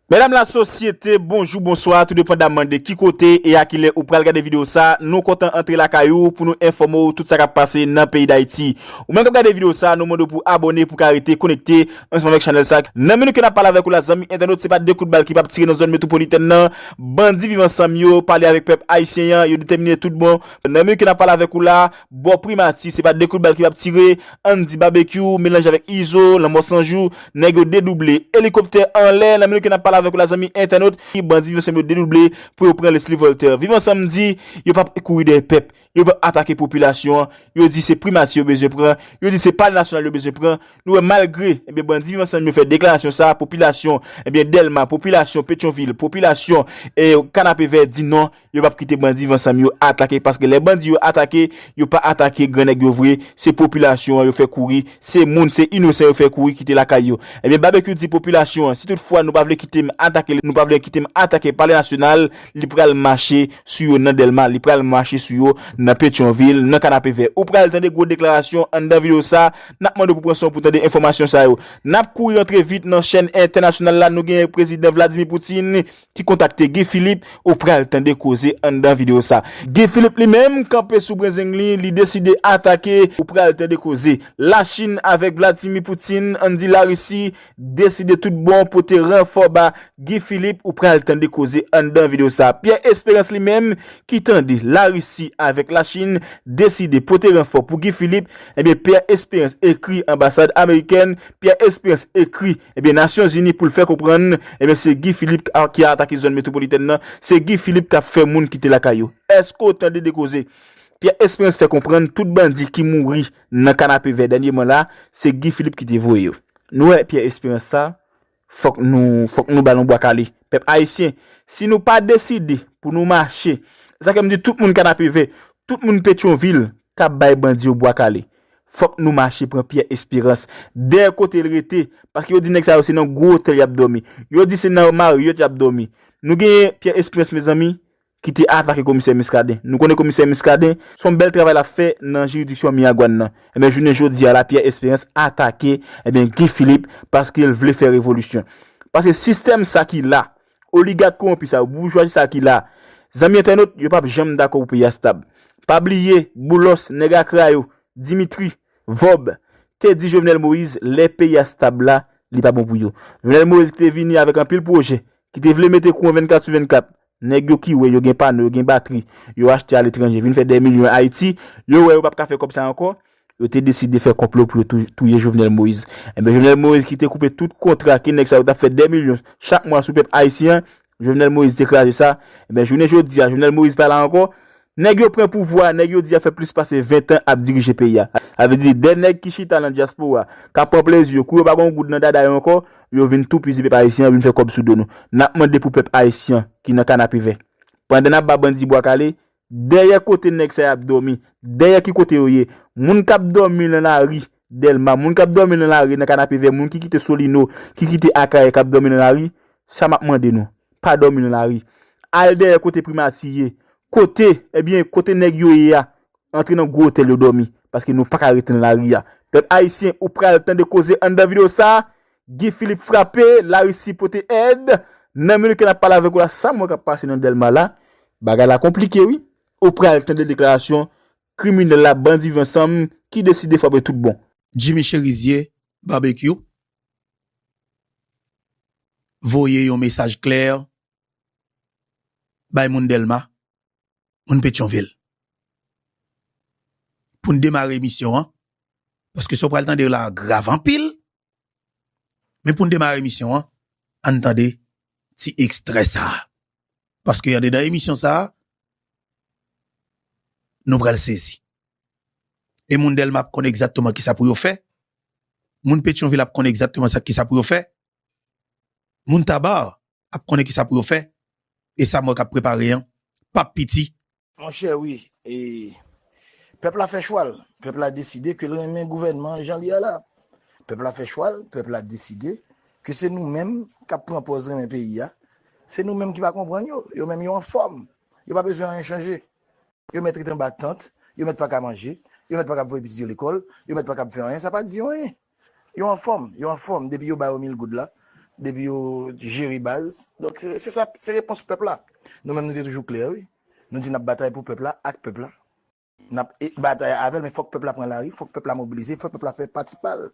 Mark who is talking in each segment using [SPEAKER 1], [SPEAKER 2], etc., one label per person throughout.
[SPEAKER 1] Medam la sosyete, bonjou, bonswa, tou depandaman de ki kote e a ki lè ou pral gade video sa, nou kontan antre lakay ou pou nou enfòme w tout sa kap pase nan peyi Dayiti. Ou menm kap gade video sa, nou mande w pou abòne pou ka rete konekte ansanm avèk chanèl sa. Nan minit ke nap pale avèk ou la zanmi entènot se pa 2 kout bal ki pap tire nan zòn metwopolitèn nan, bandi viv ansanm yo pale avèk pèp ayisyen an, yo detèmine tout bon. Nan minit ke nap pale avèk ou la, Bò primati, se pa de kout bal ki pap tire, Andy Babekyou melanje avèk Izo, lanmò san jou, nèg yo dedouble, elikoptè anlè, nan minit ke nap pale avèk ou la zanmi entènot, bandi Viv Ansanm yo dedouble pou yo pran Leslie Voltaire. Viv Ansanm di, yo pap kouri dèyè pèp, yo pap atake popilasyon an, yo di se primati yo bezwen pran, yo di se palè nasyonal yo bezwen pran, nou wè malgre, ebyen bandi Viv Ansanm yo fè deklarasyon sa, popilasyon, ebyen Dèlma, popilasyon Petyonvil, popilasyon Kanapevè di non, Yo pap kite bandi vansanm yo atake paske lè bandi yo atake yo pa atake gran nèg yo vre se popilasyon an yo fè kouri se moun se inosan yo fè kouri kite lakay yo ebyen babekyou di popilasyon an si tout fwa nou pa vle kite m atake nou pa vle kite m atake palè nasyonal li pral mache sou yo nan dèlma li pral mache sou yo nan petyonvil nan kanapevè ou pral tande gwo deklarasyon anndan video sa nap mande w pou pran son w pou tande enfòmasyon sa yo nap kouri rantre vit nan chèn entènasyonal la nou gen prezidan vladimi poutine ki kontakte Guy Philippe ou pral tande koze anndan video sa. Guy Philippe li menm kanpe sou brenzeng li, li deside atake ou pral tande koze. La Chin avèk Vladimir Putin ann di la Russie deside tout bon pote ranfò ba Guy Philippe ou pral tande koze anndan video sa. Pierre Esperance li menm ki tande la Russie avèk la Chin deside pote ranfò pou Guy Philippe, ebyen Pierre Esperance ekri anbasad amerikèn Pierre Esperance ekri ebyen Nasyon Zini pou l fè konprann ebyen se Guy Philippe k ki a atake zòn metwopolitèn nan, se Guy Philippe k ap fè moun kite lakay yo. Èske w tande de koze? Pierre Esperance fè konprann tout bandi ki mouri nan Kanapevè dènyeman la, se Guy Philippe ki te voye yo. Nou wè Pierre Esperance sa, fòk nou fòk nou ba l yon bwa kale. Pèp Ayisyen, si nou pa deside pou nou mache, sa fè m di tout moun Kanapevè, tout moun Petyonvil, kap bay bandi yo bwa kale fòk nou mache pran pyè esperans dèyè kote l rete paske yo di nèg sa yo se nan gwo otèl yap dòmi yo di se nan mariot yap dòmi nou genyen pyè esperans mezanmi ki te atake komisè miskaden nou konnen komisè miskaden son bèl travay lap fè nan jiridiksyon miyagwann nan ebyen jounen jodia la pyè esperans atake ebyen guy philippe paske l vle fè revolisyon paske sistèm sa ki la. Oligak kowonpi sa yo, boujwazi sa ki la a. Zanmi entènot, yo p ap janm dakò pou peyi a stab. Pa bliye, Boulos, nèg akra yo, Dimitri, Vob, te di Jovenel Moïse lè peyi a stab la, li pa bon pou yo. Jovenel Moïse ki te vini avèk anpil pwojè, ki te vle mete kouran 24 sou 24, nèg yo ki wè yo gen pano, yo gen batri, yo achte aletranje, vin fè dè milyon Ayiti, yo wè yo p ap ka fè kòb sa ankò, Yo te deside fè konplo pou yo touye Jovenel Moïse. Enben Jovenel Moïse ki te koupe tout kontra ke nèg sa yo tap fè dè milyon chak mwa sou pèp Ayisyen an, Jovenel Moïse te kraze sa. Enben jounen jodi a Jovenel Moïse pa la ankò. Nèg yo pran pouvwa a, nèg yo di a fè plis pase 20 tan ap dirije peyi a. Sa vle di dè nèg ki chita nan dyaspora, kap pran plezi yo, kou yo pa gon goud nan dada yo ankò, yo vin toupizi pèp Ayisyen an, vin fè kòb sou do nou. Nap mande pou pèp Ayisyen ki nan kanapevè. Pandan nap ba bandi bwa kale, Dèyè kote nèg sa y ap dòmi? Dèyè ki kote yo ye? Moun k ap dòmi nan lari Dèlma, moun k ap dòmi nan lari nan Kanapevè, moun ki kite Solino, ki kite Akayè k ap dòmi nan lari, sa m ap mande nou, pa dòmi nan lari. Al dèyè kote Primati ye. Kote, ebyen, kote nèg yo ye a. Antre nan gwo otèl yo dòmi. Paske nou pa ka rete nan lari a. Pèp ayisyen, ou pral tande koze anndan videyo sa a. Guy Philippe frape, la Russie pote èd, nan minit ke nap pale avèk ou la sam wè kap pase nan Dèlma la, bagay la konplike wi, ou pral tande deklarasyon kriminèl la bandi viv ansanm ki deside frape tout bon. Jimmy Cherizier
[SPEAKER 2] Barbecue voye yon mesaj klè bay moun Dèlma, moun Petyonvil. Poun demare emisyon an, paske sa ou pral tande la grav anpil, Men pou n demare emisyon an, ann tande ti ekstrè sa a. Paske andedan emisyon sa a, nou pral sezi. E moun Dèlma ap konn egzatteman ki sa pou yo fè, moun Petyonvil ap konn egzatteman sa ki sa pou yo fè, moun Taba, ap konnen kisa pou yo fè e sa mwen kap prepare an pap piti. Monchè wi
[SPEAKER 3] e pèp la fè chwal pèp la deside ke l renmen gouvènman an jan li a la pèp la fè chwal pèp la deside ke se nou menm kap pran pòz renmen peyi a se nou menm ki pa konprann yo yo menm yo anfòm yo pa bezwen anyen chanje yo mèt ret anba tant yo mèt pa ka manje yo mèt pa kab voye pitit yo lekòl yo mèt pa kab fè anyen sa pa di yo anyen. Yo anfòm, yo anfòm depi yo ba yo mil goud la, depi yo jere baz. Donk se sa, se repons pèp la. Nou menm nou te toujou klè wi. Nou di n ap batay pou pèp la, ak pèp la. N ap batay avè l men fòk pèp la pran lari, fòk pèp la mobilize, fòk pèp la fè pati pa l.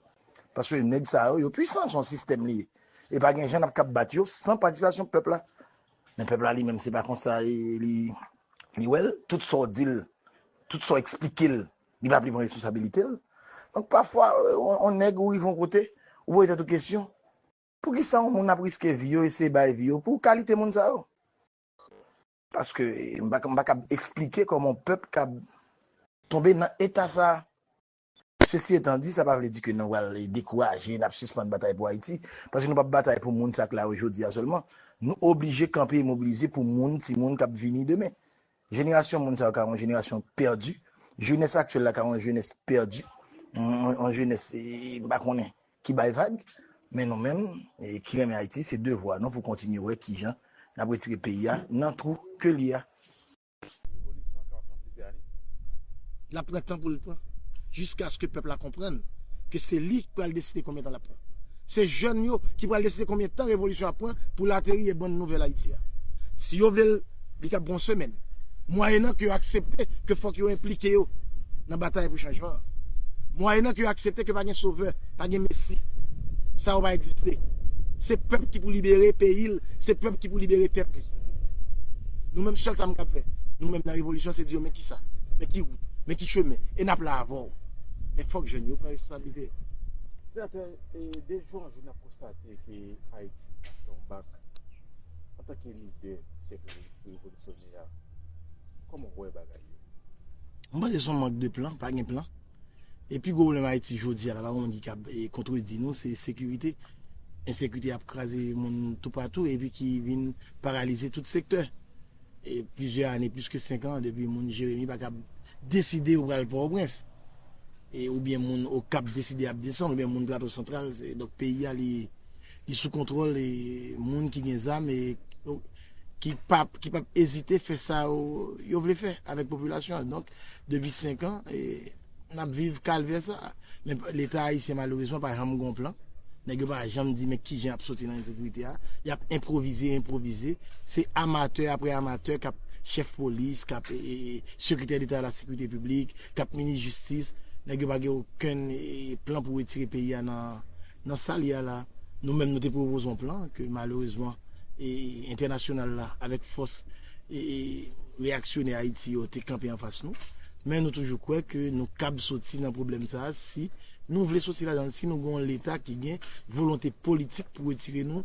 [SPEAKER 3] Paske nèg sa yo, yo pwisan, se yon sistèm li ye. E pa gen jan n ap kab bat yo san patisipasyon pèp la. Men pèp la li menm se pa konsa li wè l. Tout sa w di l, tout sa w eksplike l, Li pa vle pran responsabilite l. Donk pafwa on nèg ou rive on kote, ou poze tèt ou kesyon, poukisa on moun ap riske vi yo, eseye bay vi yo pou kalite moun sa yo? Paske m pa m pa kab esplike kòman on pèp kab tonbe nan eta sa. Sesi etan di, sa pa vle di ke nou pral dekouraje, n ap sispann batay pou Ayiti. Paske nou p ap batay pou moun sa k la yo jodi a sèlman. Nou oblije kanpe e mobilize pou moun, timoun k ap vini demen. Jenerasyon moun sa yo ka yon jenerasyon pèdi. Jenès aktyèl la ka yon jenès pèdi. Yon jenès m pa konnen ki bay vag. Men nou menm ki renmen Ayiti se devwa nou pou kontinye wè kijan n ap retire peyi a nan twou ke l ye a. Revolisyon an ka ap pran plizyè ane.
[SPEAKER 4] L ap pran tan pou l pran. Jiskaske pèp la konprann ke se li k pral deside konbyen tan l ap pran. Se jèn yo ki pral deside konbyen tan revolisyon ap pran pou l ateri e bann nouvèl Ayiti a. Si yo vle l, li kab pran yon semèn, mwayennan ke yo aksepte ke fòk yo enplike yo nan batay pou chanjman an. Mwayennan ke yo aksepte ke pa gen sovè, pa gen mesi. Sa yo pa egziste. Se pèp ki pou libere peyi l, se pèp ki pou libere tèt li. Nou menm sèl sa m kab fè, nou menm nan revolisyon se di yo men kisa, men ki wout, men ki chemen e n ap la avè w. Men fòk jèn yo pran responsablite yo.
[SPEAKER 5] de jou an jou nap konstate ke Ayiti ap pran yon bak antanke lidè syèk revolisyonè a, kòman ou wè bagay yo? Mwen panse
[SPEAKER 4] son mank de plan, pa gen plan. E pi gwo pwoblèm Ayiti jodi a la, pa gen moun ki kab kontredi nou, se sekirite. Ensekirite ap kraze moun toupatou epi ki vin paralize tout sektè. Plizyè ane, plis ke 5 an, depi moun Jeremi pa kab deside yo pral Pòtoprens. E oubyen moun Okap deside y ap desann, oubyen moun Plato Santral. Donk peyi a li sou kontwòl moun ki gen zam e ki pa p ezite fè sa yo vle fè avèk popilasyon an. Donk depi 5 an. Nap viv kalvè sa. Men leta ayisyen malerezman pa janm gen yon plan. Nèg yo pa janm di men kijan yap soti nan ensekirite a. Yap enprovize, enprovize. Se amatè apre amatè kap chèf polis, kap sekretè deta la sekirite piblik, kap minis jistis. Nèg yo pa gen okenn plan pou retire peyi a nan. Nan sa l ye a la, nou menm nou te pwopoze yon plan ke malerezman entènasyonal la avèk fòs reyaksyonè Ayiti yo te kanpe anfas nou. Men nou toujou kwè ke nou kab soti nan pwoblèm sa a si nou vle soti ladan l, si nou gen yon Leta ki gen volonte politik pou retire nou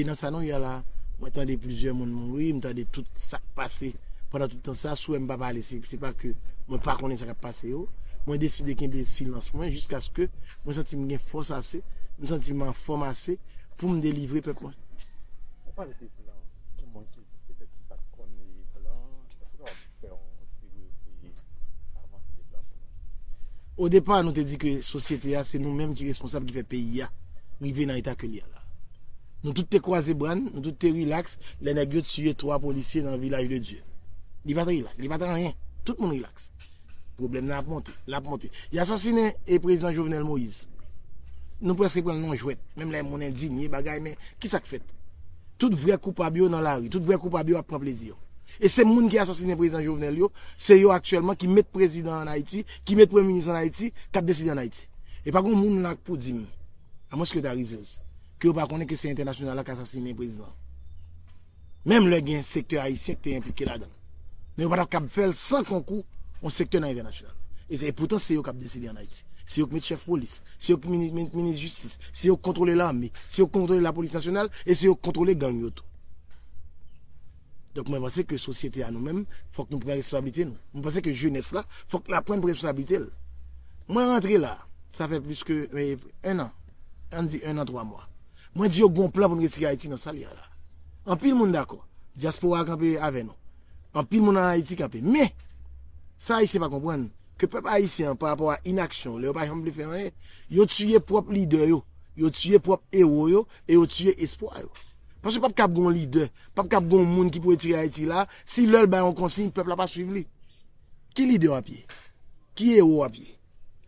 [SPEAKER 4] nan sa nou ye a la. Mwen tande plizyè moun mouri, m tande tout sa k pase pandan tout tan sa a. Souwè m pa pale, se pa ke mwen pa konnen sa k ap pase yo. Mwen deside kenbe silans mwen jiskaske Mwen santi m gen fòs ase, m santi m anfòm ase pou m delivre pèp mwen. Ou pale
[SPEAKER 5] de plan pou moun ki petèt ki pat konn plan, èske w kapab fè yon ti revye avanse de plan pou nou? O depa
[SPEAKER 4] nou te di ke sosyete a se nou menm ki responsab ki fè peyi a rive nan eta ke li a la. Nou tout te kwaze bra n, nou tout te rilaks lè nèg yo tiye 3 polisye nan Vilaj de Dye. Li pat rilaks, li pat anyen, tout moun rilaks. Pwoblèm nan ap monte, l ap monte. Y asasinen e prezidan Jovenel Moïse. Nou prèske pran l nan jwèt. Menm lè moun endinye bagay men, ki sa k fèt? Tout vrè koupab yo nan lari, tout vrè koupab yo ap pran plezi yo. E se moun ki asasinen prezidan Jovenel yo, se yo aktyèlman ki met prezidan an Ayiti, ki met premye minis an Ayiti, k ap deside an Ayiti. E pa gon moun la k pou di m, amwenske yo ta rizèz, ke yo pa konnen ke se entènasyonal la k asasinen prezidan. menm lè gen sektè ayisyen ki te enplike ladan l, men yo pa t ap kab fè l san konkou yon sektè nan entènasyonal la. E poutan se yo k ap deside an Ayiti. Se yo ki met chèf polis, se yo ki met minis jistis, se yo ki kontwole lame, se yo ki kontwole lapolis nasyonal e se yo ki kontwole gang yo tou. Donk mwen panse ke sosyete a nou menm fòk nou pran responsablite nou. Mwen panse ke jenès la fòk l aprann pran responsablite l. Mwen rantre la, sa fè plis ke 1 an, an n di 1 an 3 mwa. Mwen di yo gon plan pou n retire Ayiti nan sa l ye a la. Anpil moun dakò. Dyaspora a kanpe avè nou. Anpil moun an Ayiti kanpe. Men, sa Ayisyen pa konprann, ke pèp Ayisyen an pa rapò a inaksyon yo, lè yo pa janm vle fè anyen, yo tiye pwòp lidè yo, yo tiye pwòp ewo yo e yo tiye espwa yo. Paske pap kab gon lidè, pap kab gon moun ki pou retire Ayiti la, si lè l bay yon konsiy, pèp la pa swiv li. Ki lidè w ap ye? Ki ewo w ap ye?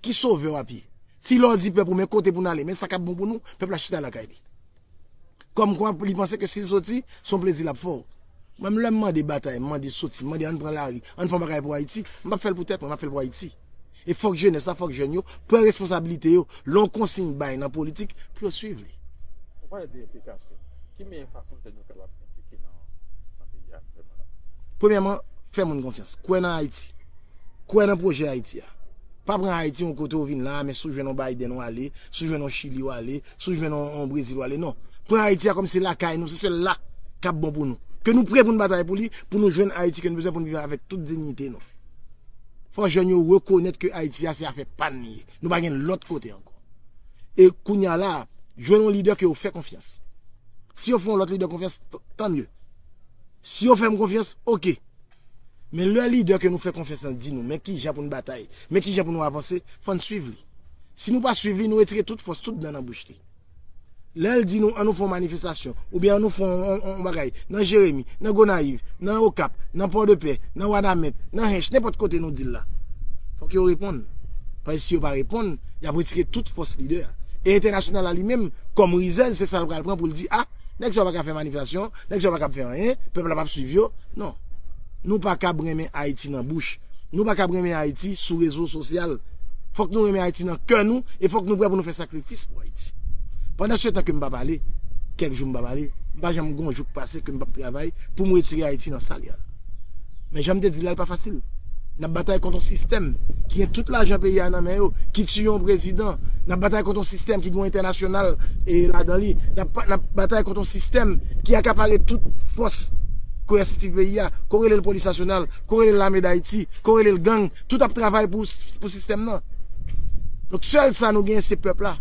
[SPEAKER 4] Ki sovè wap ye? Si lè w di pèp ou men kote pou n ale, men sa k ap bon pou nou, pèp la chita lakay li. Kòmkwa li panse ke si l soti, se yon plezi l ap fè w. Mwen menm lè m mande batay, m mande soti, m mande ann pran lari, ann fè yon bagay pou Ayiti, m pap fè l pou tèt mwen, m ap fè l pou Ayiti. E fòk jenès la, fòk jèn yo pran responsabilite yo lè yon konsiy bay nan politik pou yo suiv li. Ou pale de
[SPEAKER 5] enplikasyon. Ki meyè fason jèn yo kapab enplike nan peyi a aktiyèlman la? Premyèman,
[SPEAKER 4] fè moun konfyans. Kwè nan Ayiti. Kwè nan pwojè Ayiti a. Pa pran Ayiti yon kote ou vin la a men si w jwenn yon Biden w ale, si w jwenn yon Chili w ale, si w jwenn yon Brezil w ale non. Pran Ayiti a kòm se lakay nou, se sèl la k ap bon pou nou. Ke nou pre pou n batay pou li, pou nou jwenn Ayiti ke nou bezwen pou n viv avèk tout dinyite nou. Fò jèn yo rekonèt ke Ayiti a se afè pa n li ye. Nou pa gen lòt kote ankò. E kounye a la a, jwenn yon lidè ke yo fè konfyans. Si yo fè yon lòt lidè konfyans, tant mieux. Si yo fè m konfyans, ok. Men lè lidè ke nou fè konfyans lan di nou men kijan pou n batay, men kijan pou nou avanse, fò n swiv li. Si nou pa swiv li, nou retire tout fòs, tout dan nan bouch li. Lè l di nou an nou fè yon manifestasyon, oubyen an nou fè yon bagay nan Jeremi, nan Gonayiv, nan Okap, nan Pòdepè, nan Wanament, nan Hench, nenpòt kote nou di l la, fò ke yo reponn. Paske si yo pa reponn, y ap retire tout fòs lidè a. E entènasyonal la li menm, kòm rizèz, se sa l pral pran pou l di a, Nèg sa yo pa ka fè manifestasyon, nèg sa yo pa kab fè anyen, pèp la pap swiv yo. Non. Nou pa kab renmen Ayiti nan bouch. Nou pa kab renmen Ayiti sou rezo sosyal. Fòk nou renmen Ayiti nan kè nou e fòk nou prè pou nou fè sakrifis pou Ayiti. Pandan se tan ke m pa pale, kèk jou m pa pale, m pa janm gon jou k pase ke m pap travay pou m retire Ayiti nan sa l ye a. Men jan m te di la, li pa fasil. N ap batay kont yon sistèm ki gen tout lajan peyi a nan men yo, ki tiye yon prezidan. N ap batay kont yon sistèm ki gen yon entènasyonal ladan li. N ap batay kont yon sistèm ki akapare tout fòs koyèsitiv peyi a, ko rele l polis nasyonal, ko rele l lame Dayiti, ko rele l gang, tout ap travay pou sistèm nan. Donk sèl sa nou genyen se pèp la.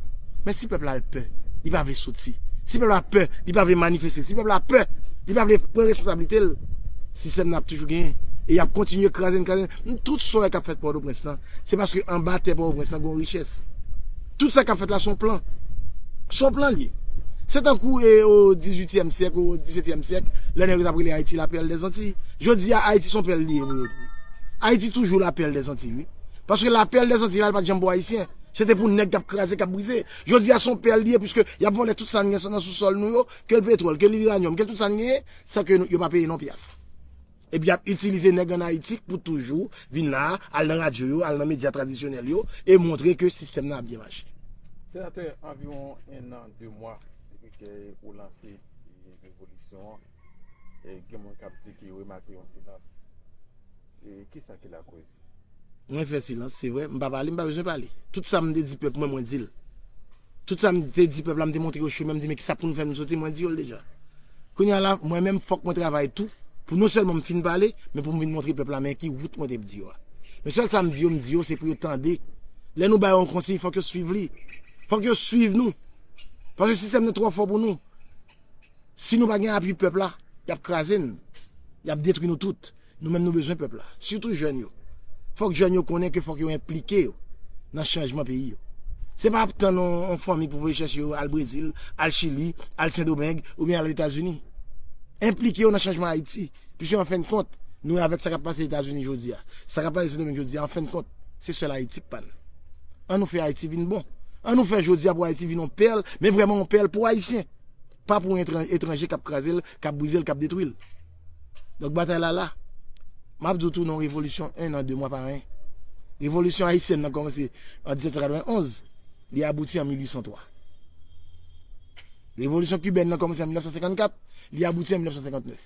[SPEAKER 4] Men si pèp la al pè, li pa vle soti. Si pèp la pè, li pa vle manifeste. Si pèp la pè, li pa vle pran responsablite l. Sistèm nan ap toujou genyen. E y ap kontinye kraze n, kraze n. Tout soyè k ap fèt Pòtoprens lan, se paske anba tè Pòtoprens lan gen yon richès. Tout sa k ap fèt la se yon plan. Se yon plan l ye. Se tankou e o dizuityèm syèk, o disetyèm syèk, lè nèg yo t ap rele Ayiti lapèl dè Zantiy. Jodi a, Ayiti se yon pèl li ye pou yo tou. Ayiti toujou lapèl dè Zantiy wi. Paske lapèl dè Zantiy la, li pa t janm pou Ayisyen. Se te pou nèg k ap kraze, k ap brize. Jodi a, se yon pèl li ye, piske y ap vòlè tout sa n gen nan sousòl nou yo, ke l petwòl, ke l iranyòm, ke l tout sa n genyen, San ke yo pa peye non pyas. Epi y ap itilize nèg an Ayiti pou toujou vin la a, al nan radyo yo, al nan medya tradisyonèl yo e montre ke sistèm nan ap byen mache. Senatè,
[SPEAKER 5] anviwon ennan, de mwa depi ke ou lanse revolisyon an, gen moun k ap di ke yo remake yon silans. Kisa ki lakoz? Mwen fè
[SPEAKER 4] silans, se vre, m pa pale, m pa bezwen pale. Tout sa m te di pèp mwen, mwen di l. Tout sa m te di pèp la, m te montre yo chemen, m di men ki sa pou nou fè nou soti, mwen di yo l deja. Kounye a la, mwen menm fòk mwen travay tou pou non sèlman m fin pale, men pou m vin montre pèp la men ki wout mwen te di yo a. Men sèl sa m di yo, m di yo se pou yo tande. Lè nou ba yo yon konsiy, fòk yo swiv li. Fòk yo swiv nou. Paske sistèm nan twò fò pou nou. Si nou pa gen apui pèp la, y ap kraze n. Y ap detwi nou tout. Nou menm nou bezwen pèp la, sitou jèn yo. Fòk jèn yo konnen ke fòk yo enplike yo nan chanjman peyi yo. Se pa ap tann yon fanmi pou voye chèche yo al Brezil, al Chili, al Sendomeng oubyen al Etazini. Enplike yo nan chanjman Ayiti, pwiske anfenn kont, nou wè avèk sa k ap pase Etazini jodi a, sa k ap pase Sendomeng jodi a, anfenn kont, se sèl Ayiti k pa n. An nou fè Ayiti vin bon. An nou fè jodi a pou Ayiti vin yon pèl, men vrèman yon pèl pou Ayisyen, pa pou yon etranje k ap kraze l, k ap brize l, k ap detwi l. Donk batay la la. M ap di w tou non revolisyon en nan de mwa pa anyen. Revolisyon ayisyèn nan kòmanse an 1791, li abouti an 1803. Revolisyon kibèn nan kòmanse an 1954, li abouti an 1959.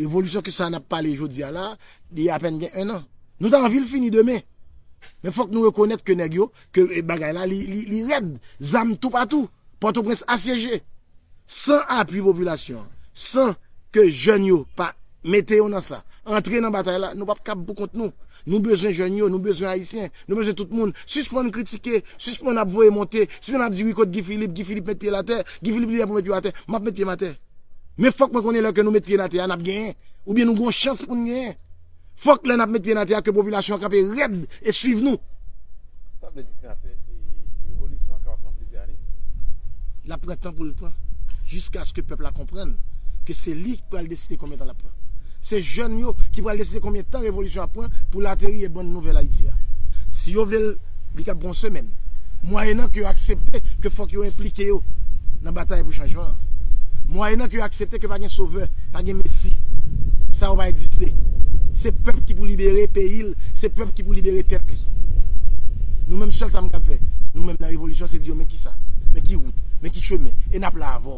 [SPEAKER 4] Revolisyon ki sa n ap pale jodi a la, li apèn gen en nan. Nou ta anvi l fini demen. Men fòk nou rekonèt ke nèg yo ke bagay la li rèd, zam toupatou, Pòtoprens asyeje, san apui popilasyon an, san ke jèn yo pa mete yo nan sa, antre nan batay la, nou pap kab pou kont nou. Nou bezwen jèn yo, nou bezwen Ayisyen, nou bezwen tout moun. Sispann kritike, sispann ap voye monte, sispann ap di wi kot Guy Philippe, Guy Philippe met pye l atè, Guy Philippe li lè pou met pye w atè, m ap met pye m atè. Men fòk mwen konnen lè ke nou met pye n atè a n ap genyen, oubyen nou gen yon chans pou n genyen. Fok lè nap met pye nan tè a ke popilasyon an kanpe rèd e swiv nou. Sa vle
[SPEAKER 5] di senatè e revolisyon an kapab pran plizyè ane? Lap
[SPEAKER 4] pran tan pou l pran. Jiskaske pèp la konprann ke se li ki pral deside konbyen tan lap pran. Se jèn yo ki pral deside konbyen tan revolisyon an ap pran pou l ateri e bann nouvèl Ayiti a. Si yo vle l. li kab pran yon semèn, mwayennan ke yo aksepte ke fòk yo enplike yo nan batay pou chanjman an, mwayennan ke yo aksepte ke pa gen sovè, pa gen mesi, sa yo pa egziste. Se pèp ki pou libere peyi l, se pèp ki pou libere tèt li. Nou menm sèl sa m kab fè, nou menm nan revolisyon se di yo men kisa, men ki wout, men ki chemen, e n ap la avè w.